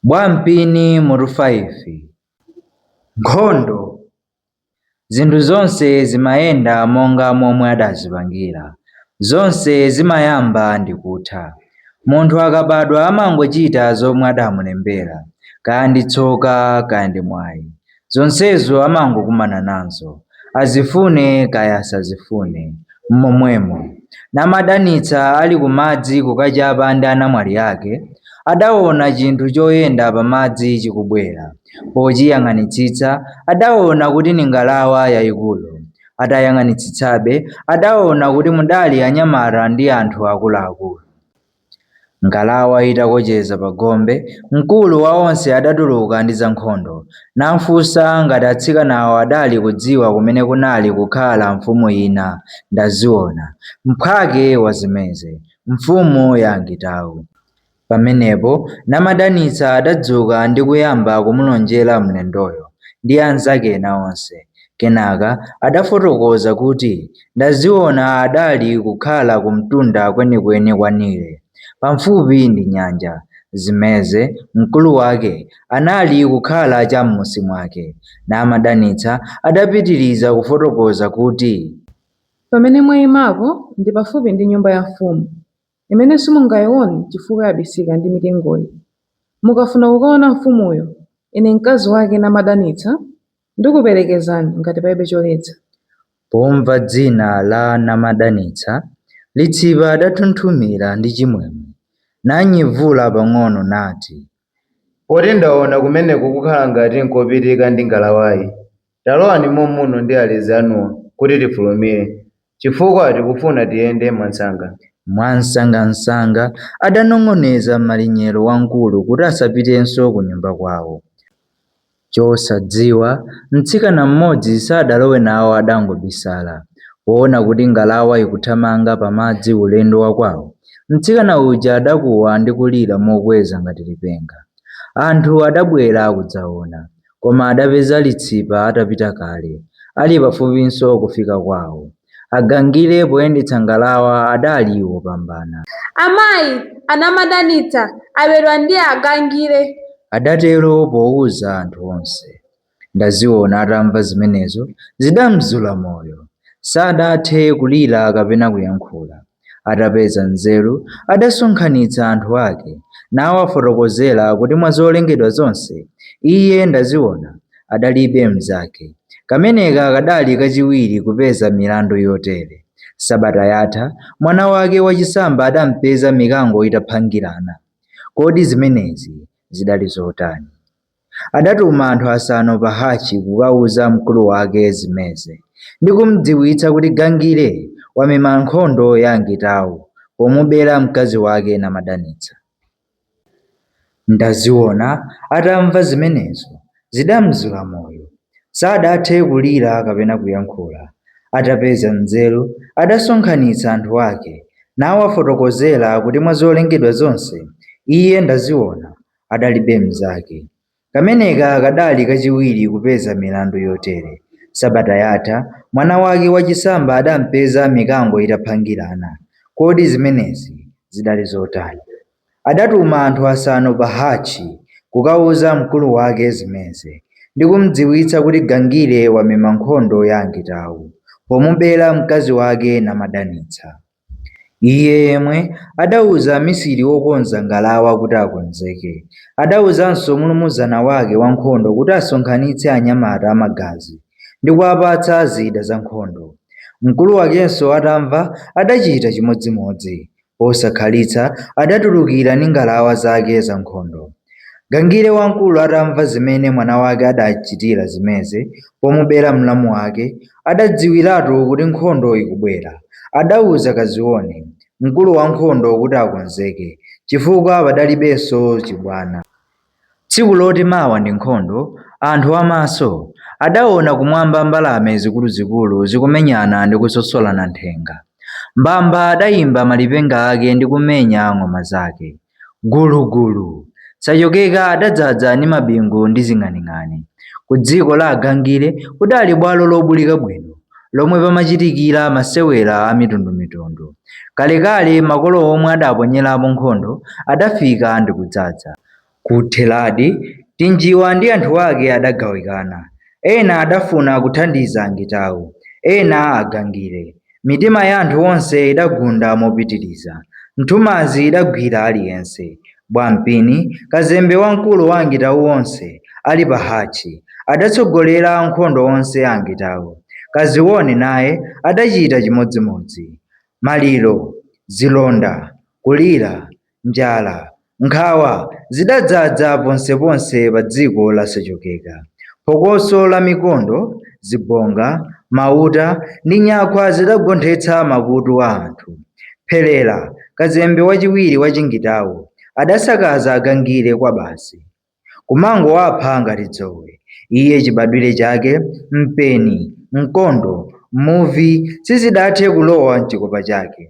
Bwampini mutu 5 Nkhondo Zinthu zonse zimayenda monga momwe adazipangira. Zonse zimayamba ndi kutha. Munthu akabadwa amangochita zomwe adamulembera, kaya ndi tsoka kaya ndi mwayi. Zonsezo amangokumana nazo, azifune kaya asazifune. M'momwemo, namadanitsa ali kumadzi kukachapa ndi anamwali ake, adaona chinthu choyenda pamadzi chikubwera. Pochiyang'anitsitsa, adaona kuti ni ngalawa yaikulu. Atayang'anitsitsabe, adaona kuti mudali anyamata ndi anthu akuluakulu. Ngalawa itakocheza pa gombe, mkulu wa onse adatuluka ndi zankhondo, namfunsa ngati atsikanawo adali kudziwa kumene kunali kukhala mfumu ina Ndaziona, mphwake wa Zimeze, mfumu ya Angitau. Pamenepo Namadanitsa adadzuka ndi kuyamba kumulonjera mlendoyo ndi anzake ena onse. Kenaka adafotokoza kuti Ndaziona adali kukhala kumtunda kwenikweni kwa Nile, pamfupi ndi nyanja, Zimeze, mkulu wake, anali kukhala cha m'munsi mwake, Namadanitsa adapitiriza kufotokoza kuti pamene mwaimapo ndi pafupi ndi nyumba ya mfumu, imene simungayione chifukwa yabisika ndi mitengoyi. Mukafuna kukaona mfumuyo, ine mkazi wake Namadanitsa, Ndikuperekezani ngati palibe choletsa. Pomva dzina la Namadanitsa, Litsipa adathunthumira ndi chimwemwe, nanyevula pang'ono nati. Poti ndaona kumeneko kukhala ngati nkopitika ndi ngalawayi, talowani momuno ndi alezi anuwa kuti tifulumire. Chifukwa tikufuna tiyende mwansanga. Mwansangansanga adanong'oneza malinyero wamkulu kuti asapitenso kunyumba kwawo. Chosadziwa, mtsikana mmodzi sadalowe nawo adangobisala. Poona kuti ngalawa ikuthamanga pamadzi ulendo wakwawo, mtsikana uja adakuwa ndi kulira mokweza ngati lipenga. Anthu adabwera kudzaona. Koma adapeza litsipa atapita kale. Ali pafupinso kufika kwawo. Agangire poyendetsa ngalawa adali wopambana. Amayi a Namadanitsa abedwa ndi Agangire. Adatero pouza anthu onse. Ndaziona atamva zimenezo zidamzula moyo. Sadathe kulira kapena kuyankhula. Atapeza nzeru, adasonkhanitsa anthu ake, nawafotokozera kuti mwa zolengedwa zonse, iye Ndaziona adalibe mnzake. Kameneka kadali kachiwiri kupeza milandu yotere. Sabata yatha, mwana wake wachisamba adampeza mikango itaphangirana. Kodi zimenezi zidali zotani? Adatuma anthu asanu pa hatchi kukauza mkulu wake Zimeze ndi kumdziwitsa kuti Gangire wamema nkhondo ya Angitau pomubera mkazi wake Namadanitsa. Ndaziona atamva zimenezo zidamzula moyo. Sadathe kulira kapena kuyankhula. Atapeza nzeru adasonkhanitsa anthu ake nawafotokozera kuti mwa zolengedwa zonse iye Ndaziona adalibe mnzake. Kameneka kadali kachiwiri kupeza milandu yotere. Sabata yatha, mwana wake wachisamba adampeza mikango itaphangirana. Kodi zimenezi zidali zotani? Adatuma anthu asanu pa hatchi kukauza mkulu wake Zimeze ndi kumdziwitsa kuti Gangire wamema nkhondo ya Angitau pomubera mkazi wake Namadanitsa. Iye yemwe adauza amisiri wokonza ngalawa kuti akonzeke, adauzanso mulumuzana wake wankhondo kuti asonkhanitse anyamata amagazi ndi kuwapatsa zida zankhondo. Mkulu wakenso atamva, adachita chimodzimodzi. Posakhalitsa adatulukira ndi ngalawa zake zankhondo. Gangire wamkulu atamva zimene mwana wake adachitira Zimeze pomubera mlamu wake, adadziwiratu kuti nkhondo ikubwera. Adauza Kazione, mkulu wankhondo kuti akonzeke, chifukwa padalibenso chibwana. Tsiku loti mawa ndi nkhondo, anthu amaso adaona kumwamba mbalame zikuluzikulu zikumenyana ndi kusosolana nthenga. Mbamba adaimba malipenga ake ndi kumenya ng'oma zake. Gulugulu! Sachokeka adadzadza ndi mabingu ndi zing'aning'ani. Ku dziko la Agangire kudali bwalo lobulika bwino lomwe pamachitikira masewera a mitundumitundu. Kalekale makolo omwe adaponyerapo nkhondo adafika ndi kudzaza. Kutheradi, Tinjiwa ndi anthu ake adagawikana. Ena adafuna kuthandiza Angitau, ena Agangire. Mitima ya anthu onse idagunda mopitiriza. Nthumanzi idagwira aliyense. Bwampini, kazembe wamkulu wa Angitau onse, ali pa hatchi, adatsogolera ankhondo onse a Angitau. Kazione naye adachita chimodzimodzi. Maliro, zilonda, kulira, njala, nkhawa zidadzadza ponseponse pa dziko la Sachokeka. Phokoso la mikondo, zibonga, mauta ndi nyakhwa zidagonthetsa makutu a anthu. Pherera, kazembe wachiwiri wa Chingitau, adasakaza Agangire kwabasi. kumangowapha ngati dzowe, iye chibadwire chake, mpeni, mkondo, muvi sizidathe kulowa m'chikopa chake.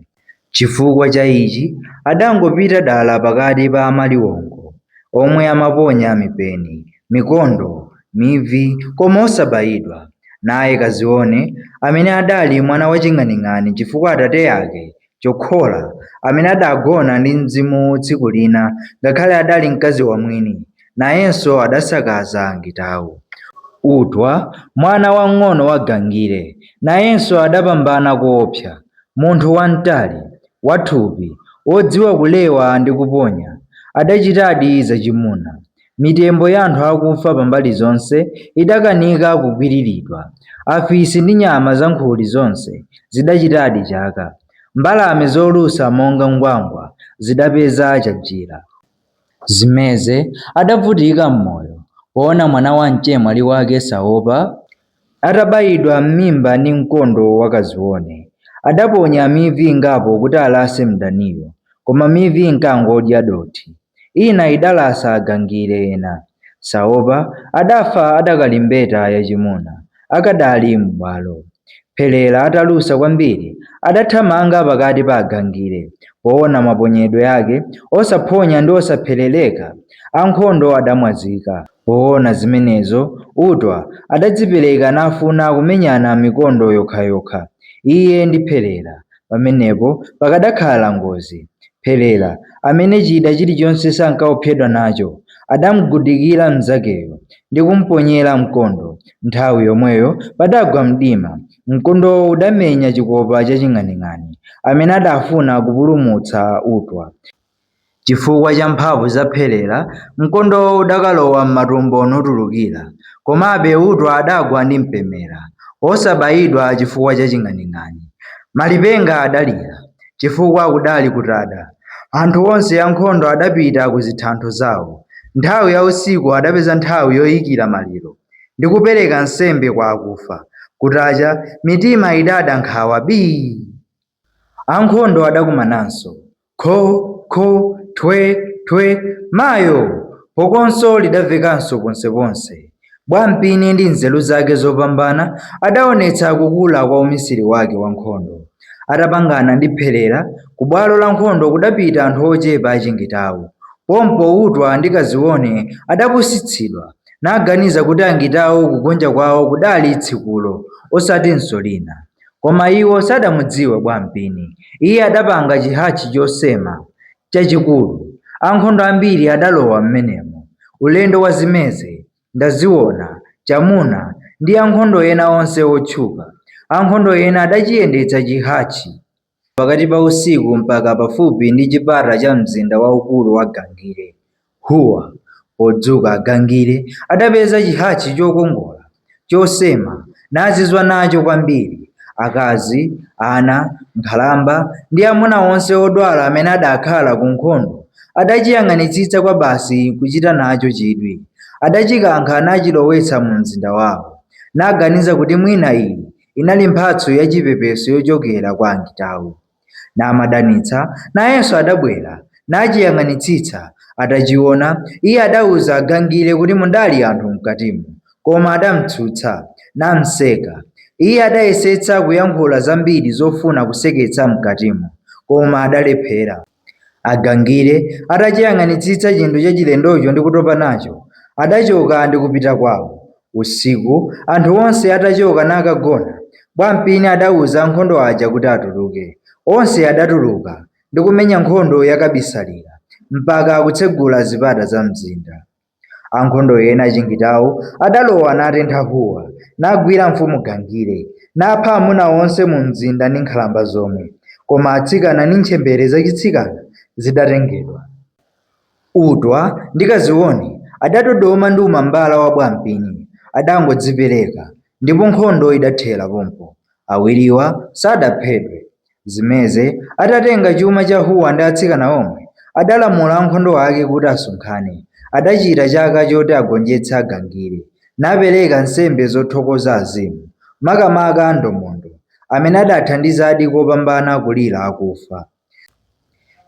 Chifukwa cha ichi adangopita dala pakati pa amaliwongo, omwe amaponya mipeni, mikondo, mivi, koma osabaidwa. Naye Kazione, amene adali mwana waching'aning'ani chifukwa atate ake Chokhola, amene adagona ndi mzimu tsiku lina, ngakhale adali mkazi wa mwini, nayenso adasakaza Angitawu. Utwa, mwana wamng'ono wa Gangire, nayenso adapambana koopsa. Munthu wamtali, wathupi, wodziwa kulewa ndi kuponya, adachitadi zachimuna. Mitembo ya anthu akufa pambali zonse idakanika kukwiriridwa. Afisi ndi nyama zankhuli zonse zidachitadi chaka. Mbalame zolusa monga ngwangwa zidapeza chajira. Zimeze adavutika m'moyo poona mwana wa mchemwali wake Saopa. Atabayidwa m'mimba ndi mkondo wa Kazione, adaponya mivi ingapo kuti alase mdaniyo, koma mivi inkangodya dothi. Ina idalasa Agangire ena. Saopa adafa adakali mbeta yachimuna, akadali m'bwalo. Pherera atalusa kwambiri, adathamanga pakati pa Agangire. Poona maponyedwe ake osaphonya ndi osapherereka, ankhondo adamwazika. Poona zimenezo, Utwa adadzipereka nafuna kumenyana mikondo yokhayokha, iye ndi Pherera. Pamenepo pakadakhala ngozi. Pherera, amene chida chilichonse sankaopsedwa nacho, adamugudikira mnzakeyo ndi kumponyera mkondo. Nthawi yomweyo padagwa mdima. Mkondowo udamenya chikopa cha Ching'aning'ani, amene adafuna kupulumutsa Utwa. Chifukwa cha mphamvu za Pherera, mkondowo udakalowa m'matumbo nutulukira, komabe Utwa adagwa ndi mpemera, osabayidwa chifukwa cha Ching'aning'ani. Malipenga adalira, chifukwa kudali kutada. Anthu onse ankhondo adapita ku zithantho zawo. Nthawi ya usiku adapeza nthawi yoyikira maliro, ndi kupereka nsembe kwa akufa. Kutacha, mitima idada nkhawa bii! Ankhondo adakumananso. Kho! Kho! Thwe! Thwe! Mayo! Phokonso lidamvekanso ponseponse. Bwampini ndi nzeru zake zopambana adaonetsa kukula kwa umisiri wake wa nkhondo. Atapangana ndi Pherera, ku bwalo la nkhondo kudapita anthu ochepa achingitau. Pompo Utwa ndi Kazione adapusitsidwa, naganiza kuti Angitau kugonja kwao kudali tsikulo, osatinso lina. Koma iwo sadamudziwe Bwampini. Iye adapanga chihatchi chosema, chachikulu. Ankhondo ambiri adalowa m'menemo. Ulendo wa Zimeze, Ndaziona, Chamuna ndi ankhondo ena onse otchuka. Ankhondo ena adachiyendetsa chihatchi pakati pa usiku mpaka pafupi ndi chipata cha mzinda waukulu wa Gangire. Huwa, podzuka Agangire adapeza chihatchi chokongola, chosema, nazizwa nacho kwambiri. Akazi, ana, nkhalamba ndi amuna onse odwala amene adakhala ku nkhondo adachiyang'anitsitsa kwabasi kuchita nacho chidwi. Adachikankha nachilowetsa mu mzinda wao, naganiza kuti mwina iyi inali mphatso yachipepeso yochokera kwa Angitau. Namadanitsa nayenso adabwera, nachiyang'anitsitsa, atachiwona, iye adauza agangire kuti mudali anthu mkatimo, koma adamtsutsa, namseka, iye adayesetsa kuyankhula zambiri zofuna kuseketsa mkatimo, koma adalephera. Agangire atachiyang'anitsitsa chinthu chachilendocho ndi kutopa nacho, adachoka ndi kupita kwawo, Usiku, anthu onse atachoka nakagona, Bwampini adauza ankhondo aja kuti atuluke. Onse adatuluka ndi kumenya nkhondo yakabisalira mpaka kutsegula zipata za mzinda. Ankhondo ena achingitau adalowa natentha Huwa, nagwira mfumu Gangire, napha amuna onse mumzinda ndi nkhalamba zomwe, koma atsikana ndi ntchembere zachitsikana zidatengedwa. Utwa ndi Kazione adadodoma ndi umambala wa Bwampini adangodzipereka ndipo nkhondo idathera pompo. Awiriwa sadaphedwe. Zimeze atatenga chuma cha Huwa ndi atsikana omwe, adalamula ankhondo ake kuti asonkhane. Adachita chaka choti agonjetse Agangire napereka nsembe zothokoza azimu, makamaka a Ndomondo, amene adathandizadi kopambana kulira akufa.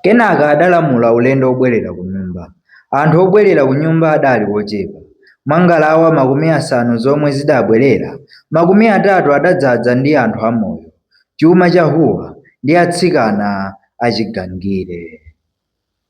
Kenaka adalamula ulendo wobwerera kunyumba. Anthu obwerera kunyumba adali ochepa. Mwa ngalawa makumi asanu zomwe zidabwerera, makumi atatu adadzadza ndi anthu amoyo, chuma cha Huwa, ndi atsikana achigangire.